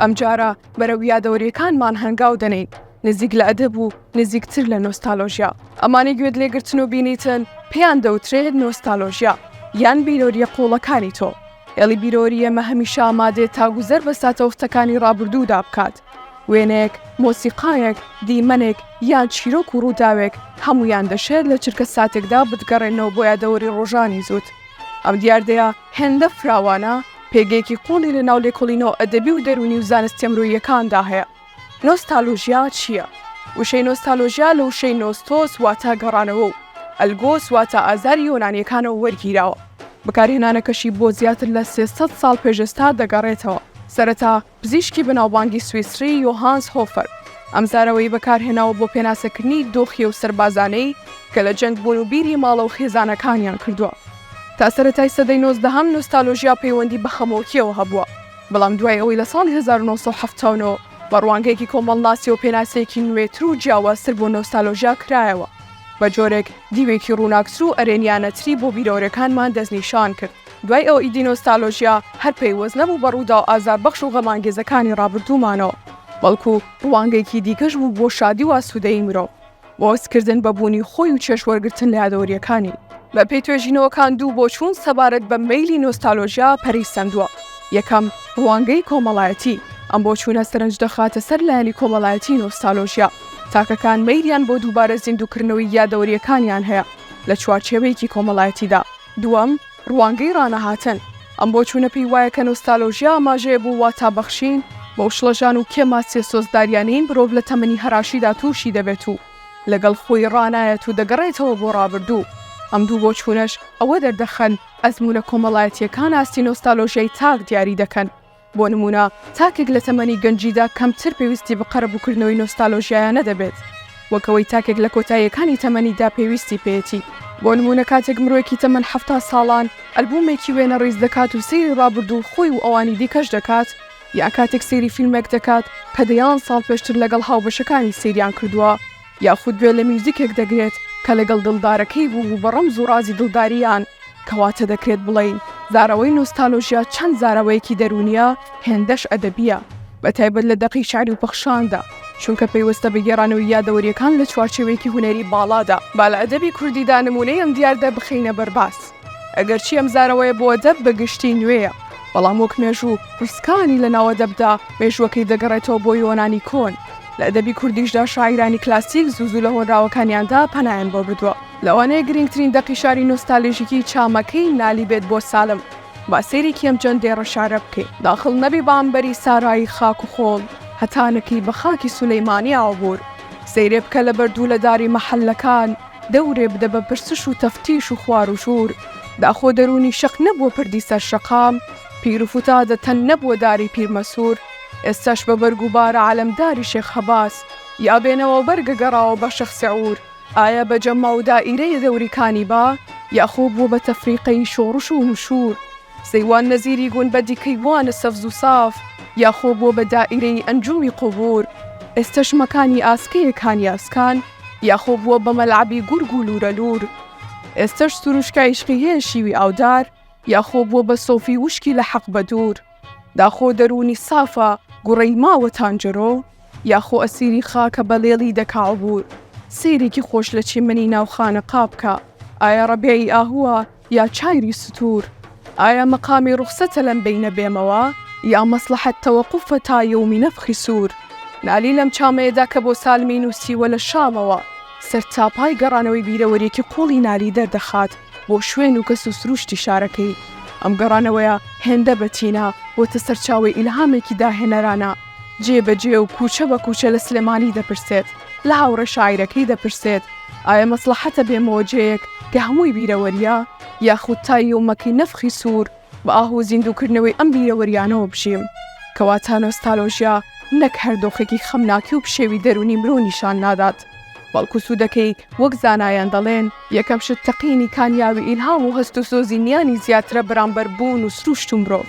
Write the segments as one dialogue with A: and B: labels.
A: ئەمجارە بەرەو یادەوەریەکانمان هەنگاو دەنێین نزیک لە ئەدەب و نزیکتر لە نۆستالۆژیا ئەمانی گوێت لێگرتن و بینیتن پێیان دەوترێت نۆستالۆژیا یان بیرۆریە قوڵەکانی تۆ ئێڵی بیرۆریەمە هەمیشە ئامادێت تا گوزەر بە ساتەوختەکانی ڕابردوودا بکات وێنەیەک، مۆسیقایەک، دیمەنێک، یان چیرۆک و ڕووداوێک، هەموویان دەشێت لە چرکەساتێکدا بتگەڕێننەوە بۆ یادەوەری ڕۆژانی زووت. ئەم دیاردەیە هێندە فراوانە، پێگەیەکی قووڵی لە ناو لێکۆڵینەوە ئەدەبی و دەروونی و زانستییە مرۆییەکاندا هەیە. نۆستالۆژیا چییە؟ وشەی نۆستالۆژیا لە وشەی نۆستۆس واتە گەڕانەوە و ئەلگۆس واتە ئازاری یۆنانییەکانەوە وەرگیراوە. بەکارهێنانەکەشی بۆ زیاتر لە سێ سەد ساڵ پێش ئێستا دەگەڕێتەوە. سەرەتا پزیشکی بەناوبانگی سویسری یۆهانس هۆفەر ئەم زارەوەی بەکارهێناوە بۆ پێناسەکردنی دۆخی ئەو سەربازانەی کە لە جەنگ بوون و بیری ماڵە و خێزانەکانیان کردووە. تا سەرەتای سەدەی نۆزدەهەم نۆستالۆژیا پەیوەندی بە خەمۆکییەوە هەبووە، بەڵام دوای ئەوەی لە ساڵی هەزار و نۆ سەد و حەفتا و نۆ بە ڕوانگەیەکی کۆمەڵناسییەوە پێناسەیەکی نوێتر و جیاوازتر بۆ نۆستالۆژیا کرایەوە، بە جۆرێک دیوێکی ڕووناکتر و ئەرێنییانەتری بۆ بیرەوەرێکانمان دەستنیشان کرد. دوای ئەوەی دینۆستالۆژیا هەر پەیوەست نەبوو بە ڕووداو ئازاربەخش و غەمانگێزەکانی ڕابردوومانەوە، بەڵکو ڕوانگەیەکی دیکەش بوو بۆ شادی و ئاسوودەیی مرۆڤ، بۆ هەستکردن بە بوونی خۆی و چێژوەرگرتن لە یادەوەرییەکانی. بەپێی توێژینەوەکان دوو بۆچوون سەبارەت بە مەیلی نۆستالۆژیا پەرەی سەندووە، یەکەم، ڕوانگەی کۆمەڵایەتی، ئەم بۆچوونە سەرنج دەخاتە سەر لایەنی کۆمەڵایەتیی نۆستالۆژیا، تاکەکان مەیلیان بۆ دووبارە زیندووکردنەوەی یادەوەرییەکانیان هەیە لە چوارچێوەیەکی کۆمەڵایەتیدا. دووەم، ڕوانگەی ڕانەهاتن، ئەم بۆچوونە پێی وایە کە نۆستالۆژیا ئاماژەیە بۆ واتابەخشین بەو شڵەژان و کێماسیە سۆزداریانەی مرۆڤ لە تەمەنی هەراشیدا تووشی دەبێت و لەگەڵ خۆی ڕانایەت و دەگەڕێتەوە بۆ ڕابردوو. ئەم دوو بۆچوونەش ئەوە دەردەخەن ئەزموونە کۆمەڵایەتییەکان ئاستی نۆستالۆژیای تاک دیاری دەکەن. بۆ نموونە تاکێک لە تەمەنی گەنجیدا کەمتر پێویستی بە قەرەبووکردنەوەی نۆستالۆژیایانە دەبێت وەک ئەوەی تاکێک لە کۆتاییەکانی تەمەنیدا پێویستی پێیەتی، بۆ نموونە کاتێک مرۆیەکی تەمەن حەفتا ساڵان ئەلبوومێکی وێنە ڕیز دەکات و سەیری ڕابردووی خۆی و ئەوانی دیکەش دەکات یان کاتێک سەیری فیلمێک دەکات کە دەیان ساڵ پێشتر لەگەڵ هاوبەشەکانی سەیریان کردووە. یاخود گوێ لە میوزیکێک دەگرێت کە لەگەڵ دڵدارەکەی بوو و بە ڕەمز و ڕازی دڵدارییان، کەواتە دەکرێت بڵێین زاراوەی نۆستالۆژیا چەند زاراوەیەکی دەروونییە، هێندەش ئەدەبییە، بەتایبەت لە دەقی شیعری و پەخشاندا، چونکە پەیوەستە بە گێڕانەوەی یادەوەرییەکان لە چوارچێوەیەکی هونەری باڵادا. با لە ئەدەبی کوردیدا نموونەی ئەم دیاردە بخەینە بەر باس. ئەگەرچی ئەم زارەوەیە بۆ ئەدەب بە گشتی نوێیە، بەڵام وەک مێژوو پرسکانی لە ناو ئەدەبدا مێژووەکەی دەگەڕێتەوە بۆ یۆنانی کۆن. لە ئەدەبی کوردیشدا شاعیرانی کلاسیک زوو زوو لە هۆنراوەکانیاندا پەنایان بۆ بردووە. لەوانەیە گرینگترین دەقی شاری نۆستالژیکی چامەکەی نالی بێت بۆ سالم. با سەیرێکی ئەم جەند دێڕە شارە بکەین. داخڵ نەبی بە عەمبەری سارایی خاک و خۆڵ، هەتانەکەی بە خاکی سولەیمانی ئاوبوور. سەیرێ بکە لە بەردوو لە داری مەحەللەکان، دەورێ بدە بە پرسش و تەفتیش و خوار و شور، داخۆ دەروونی شەق نەبووە پردی سەر شەقام، پیر و فتادە تەن نەبووە داری پیرمەسور، ئێستاش بە بەرگ و بارە عەلەمداری شێخ هەباس، یا بێنەوا بەرگە گەڕاوە بە شەخ سعور، ئایا بە جەمما و دائیرەیە دەوری کانیبا، یا خۆ بووە بە تەفریقەی شۆڕش و نشور. سەیوان نەزیری گوندبە دیکەی وانە سەفز و ساف یاخۆ بووە بە دائیرەی ئەنجومی قوبور، ئێستەش مەکانی ئاسکەیە کانی ئاسکان یاخۆ بووە بە مەلعەبی گورگ و لوورە لوور، ئێستەش سروشکای عیشقی هەیە شیوی ئاودار یاخۆ بووە بە سۆفی وشکی لە حەق بە دوور، داخۆ دەروونی سافە گوڕەی ماوە تانجەرۆ یاخۆ ئەسیری خاکە بە لێڵی دەکا عبور، سەیرێکی خۆش لە چیمەنی ناو خانەقا بکە ئایا ڕەبیعی ئاهووە یا چایری ستور ئایا مقامی روخسەتە لەم بەینە بێمەوە یا مەسڵەحەت تەوەقوفە تا یەومی نەفخی سور نالی لەم چامەیەدا کە بۆ سالمی نوسیوە لە شامەوە سەرتاپای گەڕانەوەی بیرەوەریەکی قوڵی نالی دەردەخات بۆ شوێن و کەس و سروشتی شارەکەی ئەم گەڕانەوەیە هێندە بەتینە بۆتە سەرچاوەی ئیلهامێکی داهێنەرانە جێ بە جێ و کووچە بە کووچە لە سلێمانی دەپرسێت، لە هاوڕێ شاعیرەکەی دەپرسێت، ئایا مەسڵەحەتە بێمە وەجێیەک کە هەمووی بیرەوەرییە، یاخود تا یومەکی نەفخی سوور بە ئاه و زیندووکردنەوەی ئەم بیرەوەرییانەوە بژیم؟ کەواتە نۆستالۆژیا نەک هەر دۆخێکی خەمناکی و پشێوی دەروونی مرۆ نیشان نادات، بەڵکو سوودەکەی وەک زانایان دەڵێن، یەکەم شت تەقینی کانیاوی ئیلهام و هەست و سۆزی نیانی زیاترە بەرامبەر بوون و سروشت و مرۆڤ.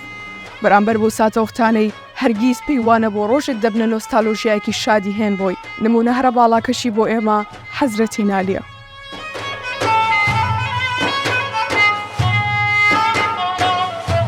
A: بەرامبەر بەو ساتەوەختانەی هەرگیز پێی وانەبوو ڕۆژێک دەبنە نۆستالۆژیایەکی شادی هێن بۆی. نموونە هەرە باڵاکەشی بۆ ئێمە حەزرەتی نالیە.